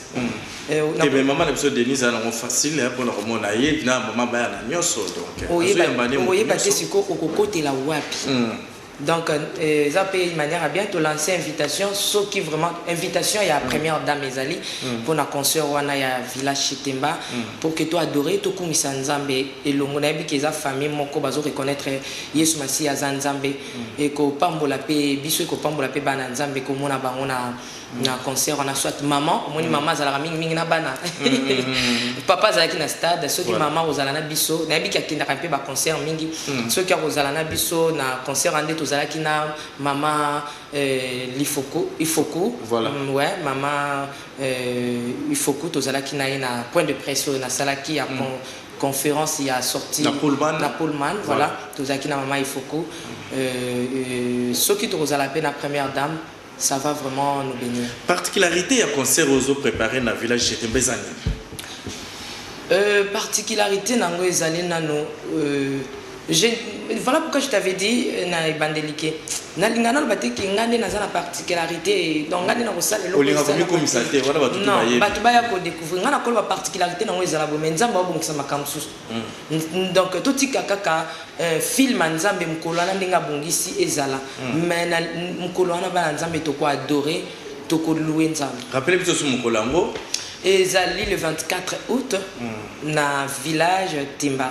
eh na eh mais maman na biso Denise ana ngo facile hein pona komona ye na maman baya na nyoso donc eh, oye ba oye ba te siko okokotela wapi mm. donc euh, eza euh, pe manière ya bien tolancer invitation soki vraiment invitation ya mm. première dame ezali mm. pona concert wana ya villa chitemba mm. pour que to adore tokumisa nzambe elongo nayebi ke eza famille moko bazo reconnaître yesu masiya aza nzambe ekopambola pe biso ekopambola pe bana ya nzambe komona bango na na concert wana soit maman omoni maman azalaka mingi mingi na bana papa azalaki na stade soki Voilà. maman akozala na biso nayebi ke akendaka mpe ba concert mingi soki akozala na biso na concert wana nde tozalaki na mama euh, lifoku ifoku Voilà. Mm, ouais, mama euh, ifoku tozalaki na ye na point de presse oyo nasalaki ya con- conference ya sortie na Pullman, na Pullman voilà, voilà. tozalaki na mama Ifoko euh, euh, soki tokozala pe na première dame ça va vraiment nous bénir. Particularité ya concert ozo préparer na village Chetembe eza nini? Euh, particularité nango ezali nano euh, Je voilà pourquoi je t'avais dit euh, na ebandeli ke nalinga naloba te ke ngai nde naza na particularité donc ngai nde nakosala eloko Olinga esala- komikomisa te, wana bato tu Non, bayebi. bato baya kodécouvrir ngai nakoloba particularité nango ezala boye mais nzambe abongisa makambo mosusu N- donc totika kaka euh, film ya nzambe mokolo wana ndenge abongisi ezala mais na n- mokolo wana bana nzambe tokoadore tokolue nzambe Rappelez biso su mokolo yango. ezali le 24 août na village timba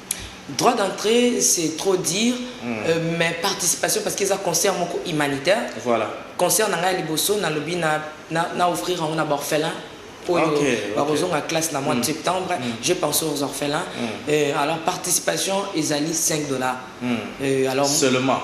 Droit d'entree c'est trop dire euh, mais participation parce que eza concert moko humanitaire. Voilà. Concert na ngai ya liboso nalobi na na, na offrir yango na baorphelin oyo Ok, ok. bakozonga classe na mois de septembre. Je pense aux orphelins. Euh, alors participation ezali 5 dollars. Euh, alors Seulement.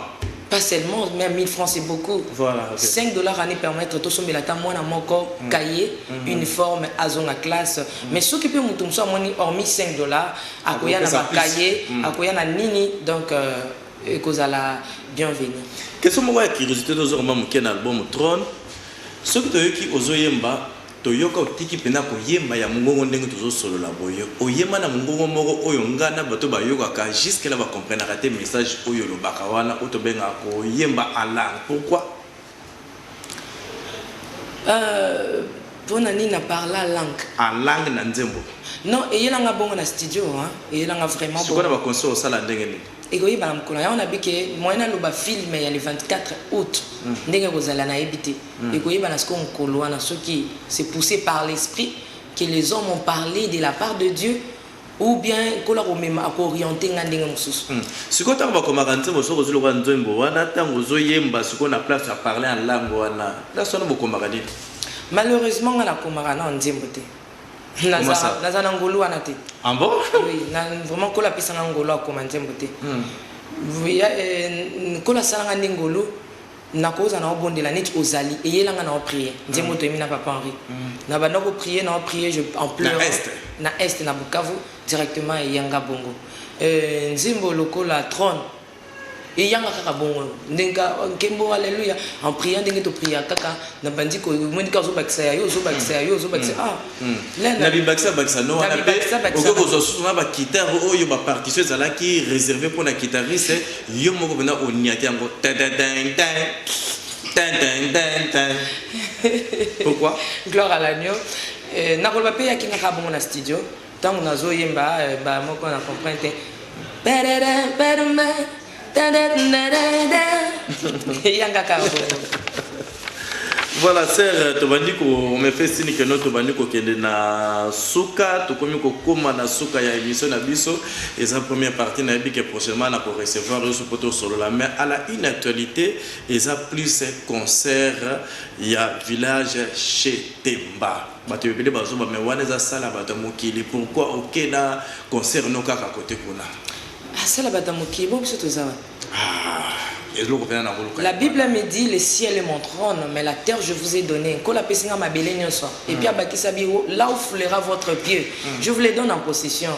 pas seulement même 1000 francs c'est beaucoup. Voilà, ok. 5 dollars ani permettre tosombela ata mwana moko cahier uniforme azonga classe mais soki mpe moto mosusu amoni hormis 5 dollars akoya na ba cahier mm. akoya na nini donc euh, ekozala bienvenue question moko ya curiosité tozo koma moke na album trone soki toyoki ozoyemba toyoka otiki mpena koyemba ya mongongo ndenge tozosolola boye oyemba na mongongo moko oyo ngai na bato bayokaka juske la bacomprenaka te message oyo olobaka wana oyo tobengaka koyemba alarme pourquoi Euh, pona nini na parla langue? En langue na nzembo. Non, eyela nga bongo na studio hein. Eyela nga vraiment Sikoyo na bongo. ba concert osala ndenge nini? Ekoyebana mokolo yango nabi ke moyen naloba film ya le 24 aout ndenge ekozala nayebi te. Ekoyebana sikoyo mokolo wana soki c'est pousse par l'esprit que les hommes ont parle de la part de Dieu Ou bien nkolo akomema ako orienter nga ndenge mosusu. Hum sikoyo tango bakomaka nzembo soki ozui lokola nzembo wana tango ozo yemba sikoyo na place ya parler en langue wana place wana bokomaka nini? Malheureusement nga nakomaka nao nzembo te naza naza na ngolu wana te. Ah bon? Oui na vraiment nkolo apesa nga ngolu ya kokoma nzembo te. Hum. Nkolo asala nga nde ngolu. Nako oza nao bondela neti ozali eyela nga nao prier nzembo toyembi na papa Henri na banda ko prier nao prier je en pleurant na est na Bukavu directement eya nga bongo euh nzembo lokola trone eya nga kaka bongo ndenka nkembo alleluia en priant ndenge to priaka kaka na bandi ko moni ka ozobakisa ya yo ozobakisa ya yo ozobakisa mm. ah mm. na bibakisa bakisa no wana pe okoki kozwa susu na bakitare oyo bapartition ezalaki réservé mpo na kitariste yo moko mpena oniate yango pourquoi gloire à l'agneau euh, nakoloba mpe yakingaka bongo na studio Tango nazo yemba ba moko na comprendre te. Perere perme yanga ka. Voilà sœur tobandi ko omepesi ni keno tobandi kokende na suka tokomi kokoma na suka ya émission na biso eza première partie nayebi ke prochainement na ko recevoir yo soki tosolola mais à la une actualité eza plus concert ya village chez Temba Bato ebele bazoba mais wana eza salle ya bato ya mokili pourquoi oke n'a concert no kaka cote kuna. Ah salle ya bato ya mokili bongo biso toza wapi? Aah eloko pena nako luka. La bible me dit le ciel est mon trone mais la terre je vous ai donne nkolo apesi nga mabele nionso et puis abakisa bi là où foulera votre pieu je vous le donne en possession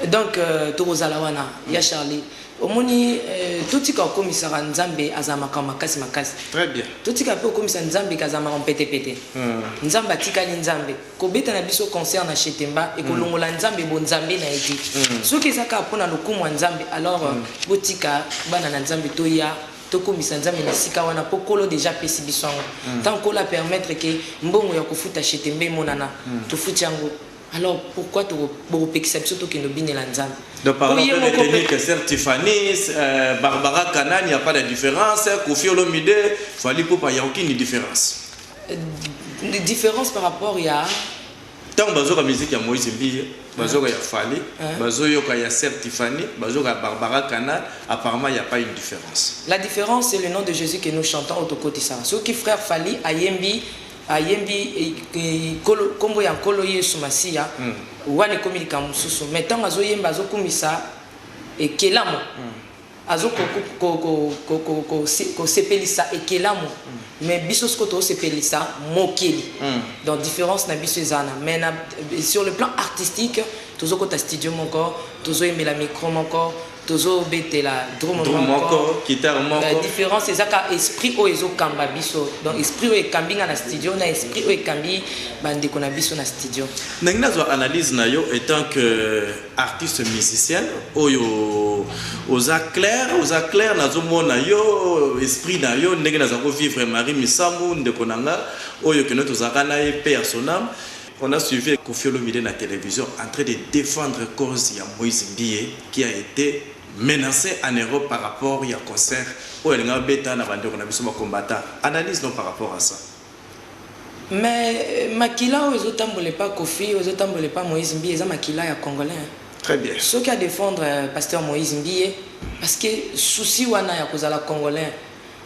donc tokozala wana ya Charly. Omoni euh, totika kokomisaka Nzambe azala makambo makasi makasi. Très bien. Totika pe kokomisa Nzambe kazala makambo pete pete. Hmm. Nzambe atikali Nzambe. Kobeta na biso concert na Chetemba et kolongola hmm. Nzambe bo Nzambe na ete. Hmm. Soki eza kaka pona lokumu ya Nzambe alors euh, botika bana na Nzambe toya tokomisa nzambe na esika wana mpo kolo deja apesi biso yango ntango kolo apermettre ke mbongo ya kofuta chetembe emonana tofuti yango Alors pourquoi toko bokopekisa biso tokende obinela Nzambe? Donc par exemple, on est tenu que Sir Tiffany, euh, Barbara Kanan, il n'y a pas de différence, Kofi Olomide, Fali Poupa, il n'y a aucune différence. Euh, différence par rapport il y a ntango bazoyoka miziki ya moïse mbiye bazoyoka ya fali bazoyoka ya ser tifani bazoyoka ya barbara canal apparemment il n'y a pas une différence la différence c'est le nom de jésus que nous chantons otokotisaka soki frère fali ayembi Ayembi kombo ya nkolo yesu masiya wana ekomi likambo mosusu mais tango azo yemba azo kumisa ekelamu azo ko sepelisa ekelamu mais biso siko tozo sepelisa mokeli donc difference na biso eza wana mais na sur le plan artistique tozo kota studio moko tozo yembela micro moko tozo betela drum drum moko guitare moko difference eza ka esprit oyo ezo kamba biso donc esprit oyo ekambi nga na studio na esprit oyo ekambi ba ndeko na biso na studio ndenge nazwa analyse na yo étant que artiste musicien oyo oza clair oza clair nazo mona yo esprit na yo ndenge naza ko vivre Marie Misamu ndeko na nga oyo keno tozalaka na ye pe ya sonam On a suivi Koffi Olomide na television en train de defendre cause ya Moise Mbiye qui a ete menace en Europe par rapport ya concert oyo alingaki abeta na ba ndeko na biso ba combattants. Analyse no par rapport à ça. Mais makila oyo ezo tambola epa Koffi, oyo ezo tambola epa Moise Mbiye eza makila ya congolais hein. Très bien. Soki a defendre Pasteur Moise Mbiye parce que souci wana ya kozala congolais,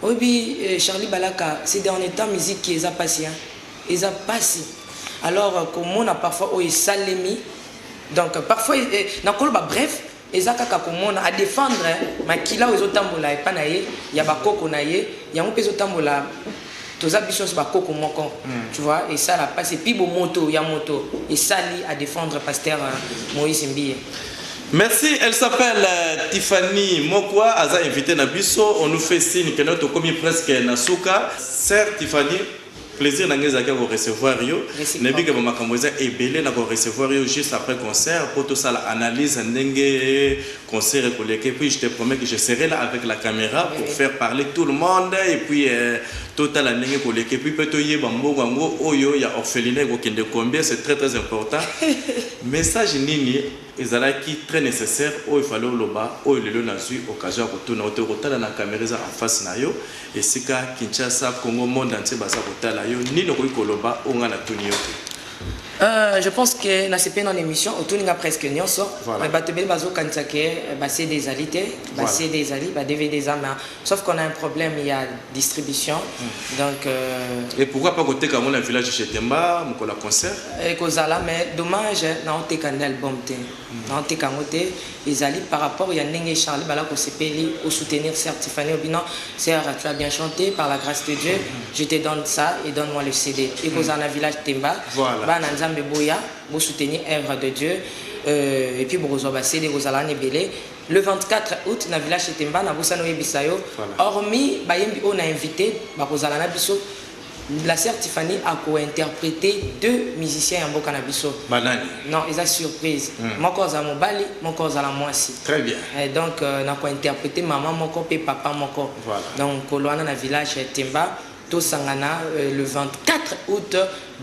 Oyebi Charly Balaka ces derniers temps musique eza pasi hein eza pasi alors komona parfois oyo esalemi donc parfois nakoloba bref eza kaka komona a defendre makila oyo ezotambola epa na ye ya ba koko na ye yango pe ezotambola toza biso nso ba koko moko tu vois esala pasi epi bomoto ya moto esali a defendre pasteur Moise Mbiye. Merci elle s'appelle Tiffany Mokwa aza invite na biso on nous fait signe que notre komi presque na suka sœur Tiffany plaisir na ngai ezalaki ya ko recevoir yo nayebi ke bamakambo eza ebele na ko recevoir yo juste après concert mpo tosala analyse ndenge concert ekoleka et puis je te promets que je serai là avec la caméra pour faire parler tout le monde et puis euh, totala ndenge ekoleka et puis mpe toyeba mbongo yango oyo ya orphelina ekokende combien c'est très très important message nini Ezalaki très necessaire oyo fallait oloba oyo lelo nazui occasion ya kotuna yo te okotala na camera eza en face na yo esika Kinshasa Congo monde entier baza kotala yo nini okoki koloba oyo ngai natuni yo te. Euh, je pense que na sepeli na émission otuni nga presque nionso voilà. mais bato ebele bazokanisa ke ba CD ezali te ba voilà. CD ezali ba DVD eza mais Sauf qu'on a un problème ya distribution donc. Euh, Et pourquoi pas koteka yango na village chez Temba mokolo ya concert? Ekozala mais dommage naoteka nde album te hmm. naoteka yango te ezali par rapport ya ndenge Charlie bala kosepeli au soutenir sœur Tiffany Obina sœur tu as bien chanté par la grâce de Dieu je te donne ça et donne-moi le CD ekozala na village Temba bana Nzambe boya bo soutenir œuvre de Dieu euh, et puis bokozwa ba CD ekozala na ebele Le 24 aout na Villa Chetemba, nabosani oyebisa yo, Voilà. hormis bayembi oyo na invite bakozala na biso, la sœur Tiffany ako interpreter deux musiciens ya mboka na biso. Banani? Non, eza surprise. Mm. Moko azala mobali, moko azala mwasi. Très bien. Eh, donc euh, nako interpreter maman moko pe papa moko. Voilà. Donc koloana na village Temba Tosangana le 24 aout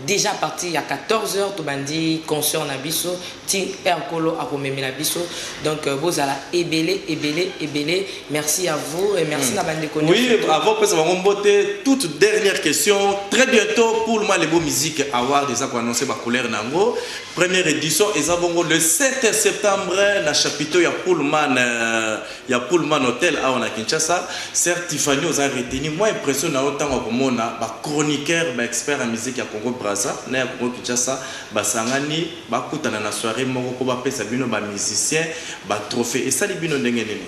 dejà à partir ya 14 heures tobandi concert na biso ti heure nkolo akomemela biso donc bozala ebele ebele ebele merci à vous et merci na bandeko Oui, nionso to avant pesa bango mbote, toute dernière question. Très bientôt, pour le Malebo Music Award, ils ont annoncé ba couleur nango. Première édition, ils ont le 7 septembre, na chapiteau ya Pullman. euh, ya Pullman Hotel awa na Kinshasa. Soeur Tyfanie oza retenue, mua impression na yo tango ya komona ba chroniqueurs ba experts ya musique ya Congo Brazza na ya Congo Kinshasa basangani bakutana na soiree moko po bapesa bino ba musiciens ba trophees esali bino ndenge nini?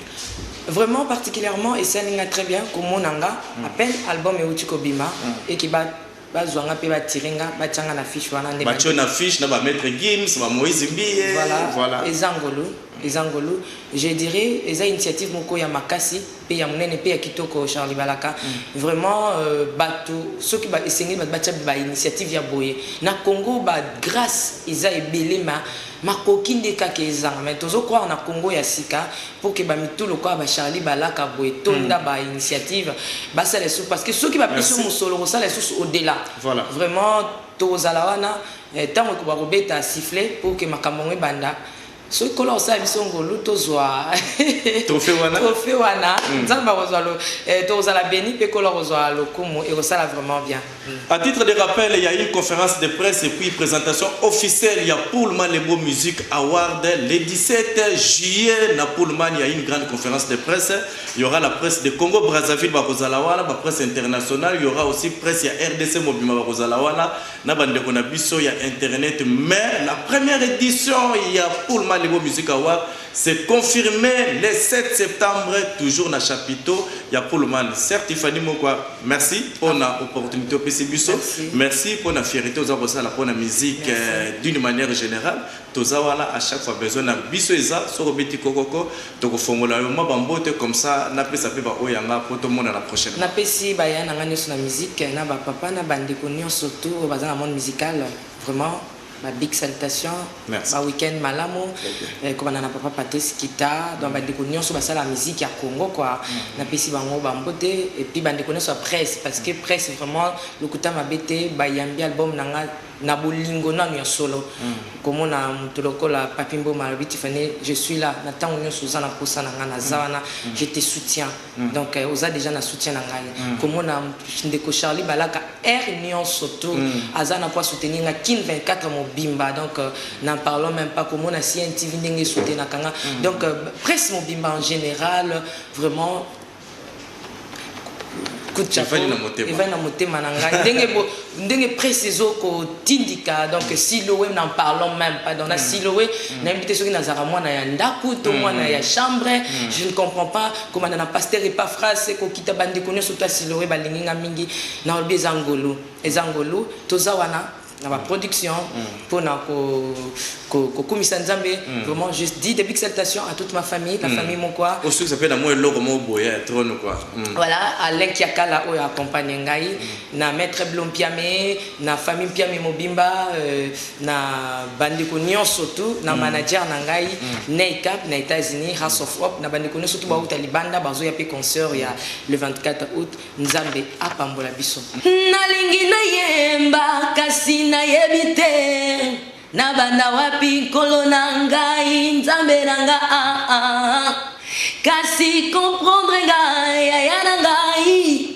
Vraiment particulièrement esali nga très bien komona nga à peine album ewuti kobima et que ba Bazua nga pe ba tire nga batia nga na fiche wana nde ba. Batie yo na fiche na ba maitre Gims, ba Moise Mbiye. Voilà, Voilà. eza ngolu, eza ngolu. Je dirais eza initiative moko ya makasi pe ya munene pe ya kitoko Charly Balaka. Vraiment euh, batu soki ba esengeli batu batia ba initiative ya boye na Congo ba grace eza ebele ma makoki nde kaka ezanga mais tozo croire na Congo ya sika Pour que ba mitu lokola ba Charly balaka boye etonda ba initiative basala lisusu parce que soki bapesi yo mosolo okosala lisusu au dela vraiment tokozala wana tango ekoba kobeta sifflet pour que makambo yango ebanda soki nkolo akosala biso ngolu tozwa trofe wana nzambe akozwa tokozala beni mpe nkolo akozwa lokumu ekosala vraiment bien A titre de rappel, il ya une conference de presse et puis presentation officielle ya Pullman Lembo Music Award le 17 juillet na Pullman il ya une grande conference de presse il y'aura la presse de Congo Brazzaville bakozala wana ba presse internationale il y'aura aussi presse ya RDC mobima bakozala wana na bandeko na biso ya internet mais la première édition ya Pullman Lembo Music Award Se confirme le 7 septembre toujours na chapiteau ya pullman sœur Tiffany mokwa merci pona opportunite opesi biso merci pona fierite oza kosala pona musique d'une manière generale toza wana à chaque fois besoin na biso eza soki obeti kokoko toko fongola yo mwa ba mbote comme ça na pesa pe ba oyo ya nga po tomonana prochainement. Na pesi ba yaya na nga nioso na musique na ba papa na ba ndeko nioso tout oyo baza na monde musical vraiment. Ba big salutations, Merci. ba week-end malamu, eh, kobanda na papa Patrice Kita, donc bandeko nyonso basala ya musique ya Congo quoi, napesi bango ba mbote, et puis bandeko nyonso ya presse, parce que presse vraiment lokuta mabe te, bayambi album na nga na bolingo nanu ya solo, komona moto lokola Papy Mboma alobi Tiffany, je suis là, na tango nyonso oza na posa na nga naza wana, je te soutiens. donc euh, oza dejà na soutien na ngai mm. komona ndeko charlie balaka aire nyonso to mm. aza na mpo asoutenir nga kin 24 mobimba donc euh, n'en parlons même pas komona cntv ndenge esoutenaka nga mm. donc euh, presse mobimba en général vraiment coup de chapeau evai na motema na ngai ndenge ndenge presse ezo ko tindika donc siloe n'en parlons meme pas donc na siloe nayebi te soki nazalaka mwana ya ndaku to mwana ya chambre je ne comprends pas kobanda na pasteur epaphras ko kita ba ndeko nionso surtout ya siloe ba lingi nga mingi na lobi eza ngolu eza ngolu toza wana na ba production pona ko ko ko kumisa nzambe vraiment je dis des big salutations à toute ma famille la famille mokwa osukisa mpe na mwa eloko moko boye ya trone quoi voilà alain kiakala oyo accompagne ngai na maitre Blond Mpiame na famille Mpiame mobimba na bandeko nionso tout na manager na ngai Ney Cap na Etats-Unis House of Hope na bandeko nionso tout bawuta libanda bazoya pe concert ya le 24 aout Nzambe apambola biso. Nalingi nayemba kasi nayebi te nabanda wapi nkolo na ngai Nzambe na nga ah ah kasi comprendre nga yaya na ngai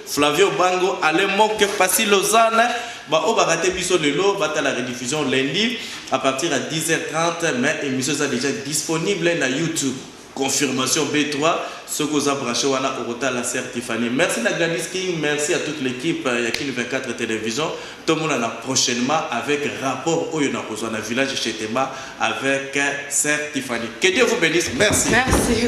Flavio Bango, Alain Moke, Passy Lausanne, ba oyo ba rate biso lelo batala rediffusion lundi à partir ya 10h30 mais emission eza dejà disponible na YouTube. Confirmation B3 soki oza branche wana okotala sœur Tiffany. Merci na Gladys King, merci à toute l'équipe ya Kin 24 Television. Tomonana prochainement avec rapport oyo nakozwa na village chez Temba avec sœur Tiffany. Que Dieu vous bénisse. Merci. Merci.